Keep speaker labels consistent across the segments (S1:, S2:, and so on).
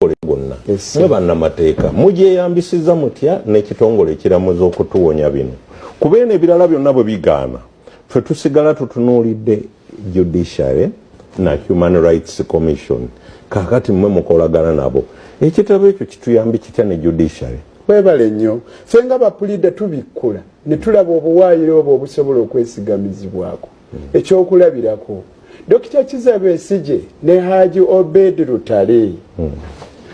S1: butongole bwonna mwe bannamateeka mugyeyambisiza mutya n'ekitongole ekiramuza okutuwonya bino kuba eno ebirala byonna bwe bigaana ffe tusigala tutunuulidde judiciary na human rights commission kakati mwe mukolagana nabo ekitabo ekyo kituyambi kitya ne judiciary webale nnyo
S2: ffe nga bapulida tubikkula ne tulaba obuwaayiro obwo obusobola okwesigamizibwako ekyokulabirako dokita kiza besije ne haji obed lutale hmm.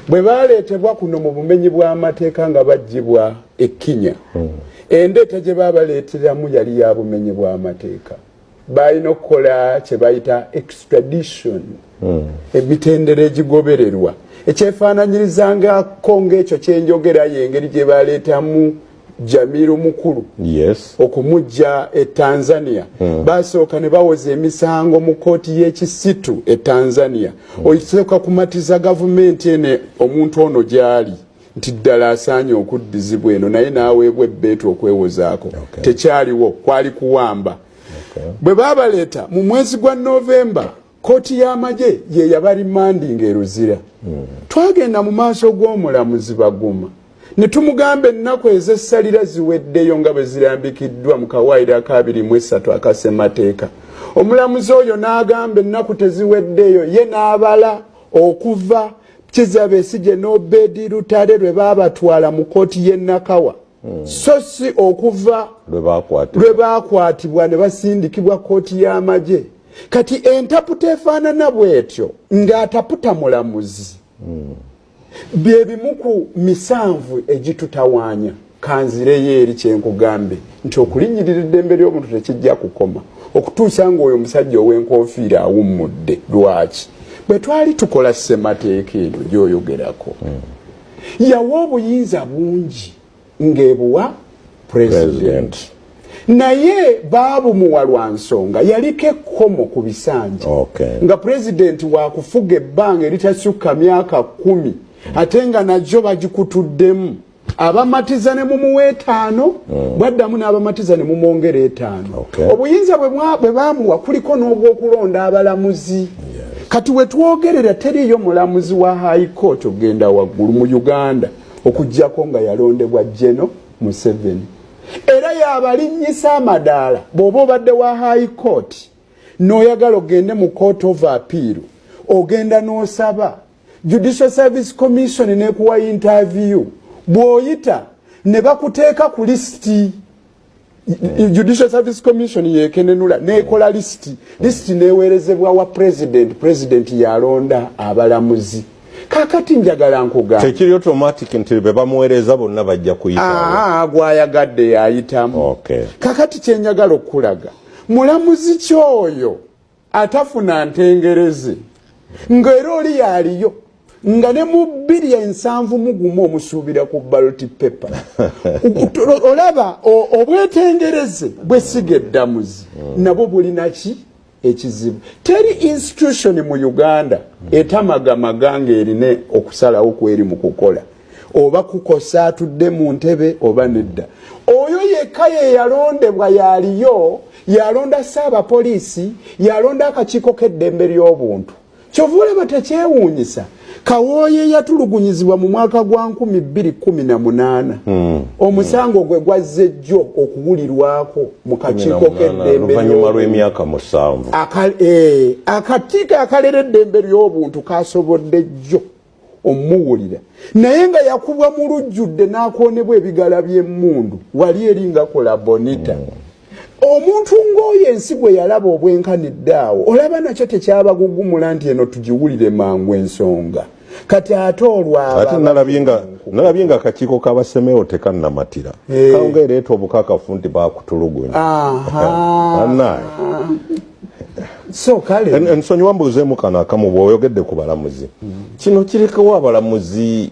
S2: bwe baleetebwa kuno mu bumenyi bw'amateeka nga baggyibwa ekkinya hmm. endeeta gye babaleeteramu yali ya bumenyi bw'amateeka balina okukola kye bayita extradition hmm. emitendera egigobererwa ekyefaananyirizangako ng'ekyo kyenjogera yengeri gye baleetamu jamiru mukulu yes. okumujja e tanzania mm. basooka ne bawoza emisango mu kooti y'ekisitu e tanzania mm. oisooka kumatiza gavumenti ene omuntu ono gyali nti ddala asaanye okuddizibwa eno naye n'aweebwa ebbeetu okwewozaako okay. tekyaliwo kwali kuwamba okay. bwe babaleeta mu mwezi gwa novemba Kkooti y'amagye ye yabarimandinga e Luzira. Hmm. Twagenda mu maaso g'omulamuzi Baguma ne tumugamba ennaku ez'essalira ziweddeyo nga bwe zirambikiddwa mu kawaayiro akaabiri mu essatu akasemateeka. Omulamuzi oyo n'agamba ennaku teziweddeyo ye n'abala okuva Kizza Besigye n'Obedi Lutale lwe baabatwala mu kkooti y'e Nakawa. hmm. so si okuva lwe baakwatibwa ne basindikibwa kkooti y'amagye kati entaputa efaanana bw'etyo ng'ataputa mulamuzi hmm. bye bimu ku misanvu egitutawaanya kanzireyo eri kyenkugambe nti okulinnyirira eddembe ly'omuntu tekijja kukoma okutuusa ng'oyo omusajja ow'enkofiira awummudde lwaki bwe twali tukola ssemateeka eno gyoyogerako hmm. yawa obuyinza bungi ng'ebuwa pulezidenti naye baabumuwa lwa nsonga yaliko ekkomo ku bisanja okay. nga pulezidenti wakufuga ebbanga eritasukka myaka kumi ate nga najo bagikutuddemu abamatiza ne mumuwa etaano mm. bwaddamu n'abamatiza ne mumwongera etaano okay. obuyinza bwe baamuwa kuliko n'obwokulonda abalamuzi kati wetwogerera teriyo mulamuzi wa high court ogenda waggulu mu uganda okujjako nga yalondebwa jeno museveni era yabalinnyisa amadaala bw'oba obadde wa high court n'oyagala ogende mu court of appeal ogenda n'osaba judicial service commission nekuwa interview bw'oyita ne bakuteeka ku lisiti judicial service commission yekenenula nekola list list newerezebwa wa president president yalonda abalamuzi kakati njagala nkuga tekiri automatic
S1: nti be bamuwereza bonna bajja kuyita ah gwayagadde
S2: yayitamu okay kakati kyenjagala okulaga mulamuzi kyoyo atafuna ntengereze nga era oli yaliyo nga ne mu bbiri ensanvu mugumu omusuubira ku baloti pepa olaba obwetengereze bwesiga eddamuzi hmm. nabwo bulinaki ekizibu teri institution mu uganda etamagamaga ngaerina okusalawo kweri mu kukola oba kukosa atudde mu ntebe oba nedda oyo yekka ye yalondebwa yaliyo yalonda saabapoliisi yalonda akakiiko k'eddembe ly'obuntu kyova olaba tekyewuunyisa kawooye yatulugunyizibwa mu mwaka gwa 218 hmm. omusango gwe gwazze jjo okuwulirwako mu kakiiko k'eddembeoluvannyuma lw'emyaka
S1: musanvu eh, akatiiko
S2: akalera eddembe ly'obuntu kasobodde jjo omuwulira naye nga yakubwa mu lujjudde n'akoonebwa ebigala by'emmundu wali eri nga kola bonita mm. omuntu ng'oyo ensi gwe yalaba obwenkanidde awo olaba nakyo tekyabagugumula nti eno tugiwulire mangu ensonga kati ate olwate nalabye
S1: nga akakiiko kabasemeo tekannamatira eh. kawunga ereeta obukakafu nti bakutulugunya
S2: so kale ensonyiwa mbuuzeemu
S1: kano akamu bwoyogedde ku balamuzi kino kirekawo abalamuzi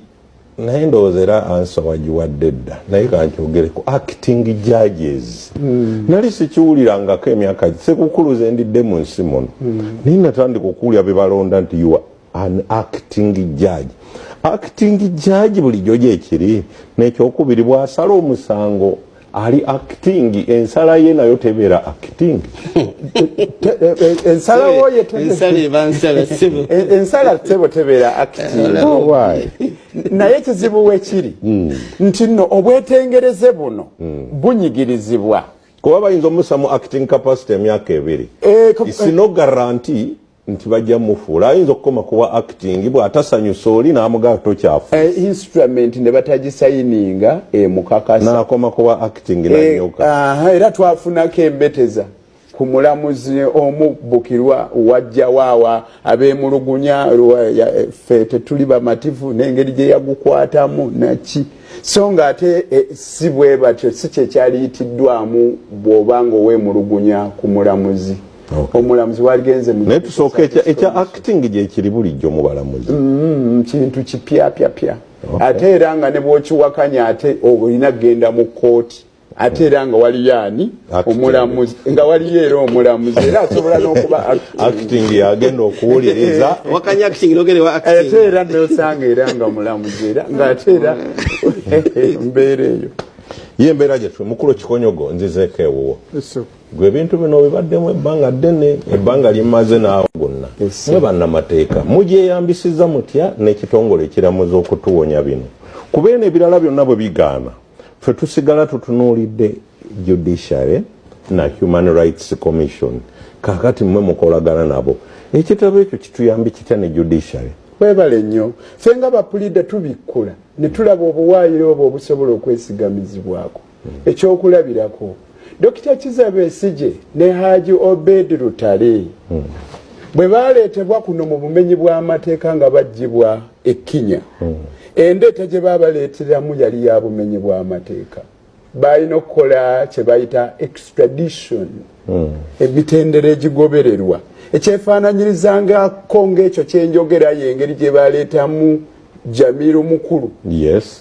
S1: naye ndowooza era ansa wagiwadde dda naye kankyogere ku acting judges mm. nali sikiwulirangako emyaka sekukuluze ndidde mu nsi muno mm. naye natandika okuwulira bebalonda nti ua an acting judge acting judge bulijjo gyekiri nekyokubiri bwasala omusango ali acting ensala ye nayo tebeera acting
S2: ensala woye ensala tebo tebeera acting oh, naye kizibu wekiri hmm. nti no obwetengereze buno hmm. bunyigirizibwa kuba bayinza
S1: omusamu acting capacity emyaka ebiri eh, eh. isino garanti nti bajja mufuula ayinza okukoma kuwa acting bwatasanyusa oli namugaa tokyafu eh, instrument ne
S2: batagisayininga emukakasa eh, nakoma kuwa
S1: acting eh, nanyoka era twafunako
S2: embeteza ku mulamuzi omu bukirwa wajja waawa abemulugunya ffe tetuli bamativu n'engeri gye yagukwatamu naki so nga ate eh, si bwe batyo si kyekyaliyitiddwamu bw'oba nga owemulugunya ku mulamuzi omulamuzi waligenze naye tusooka
S1: ekya acting gyekiri bulijjo mu balamuzi mm-hmm, kintu
S2: kipyapyapya ate era nga ne bwokiwakanya ate olina kugenda mu kooti ate era nga waliyo ani omulamuzi nga waliyo era omulamuzi era asobola nokuba acting
S1: yagenda okuwuliriza ate
S3: era nosanga
S2: era nga mulamuzi era nga ate era mbeera eyo ye mbeera
S1: gyetwe mukulu kikonyogo nzizeeko ewuwo gwe ebintu bino obibaddemu ebbanga ddene ebbanga limaze naawe gonna mwe bannamateeka mugyeyambisiza mutya n'ekitongole ekiramuza okutuwonya bino kuba eno ebirala byonna bwe bigaana fe tusigala tutunuulidde judiciary na human rights commission kakati mwe mukolagana nabo ekitabo ekyo kituyambi kitya ne judiciary webale nnyo
S2: fe nga bapulida tubikkula ne tulaba obuwaayiro obwo obusobola okwesigamizibwako ekyokulabirako dokita kiza besije ne haji obed lutale hmm. bwe baleetebwa kuno mu bumenyi bw'amateeka nga baggyibwa ekkinya hmm. endeeta gye babaleeteramu yali ya bumenyi bw'amateeka balina okukola kye bayita extradition hmm. emitendera egigobererwa ekyefaananyirizangako ng'ekyo kyenjogera yengeri gye baleetamu jamiru mukulu yes.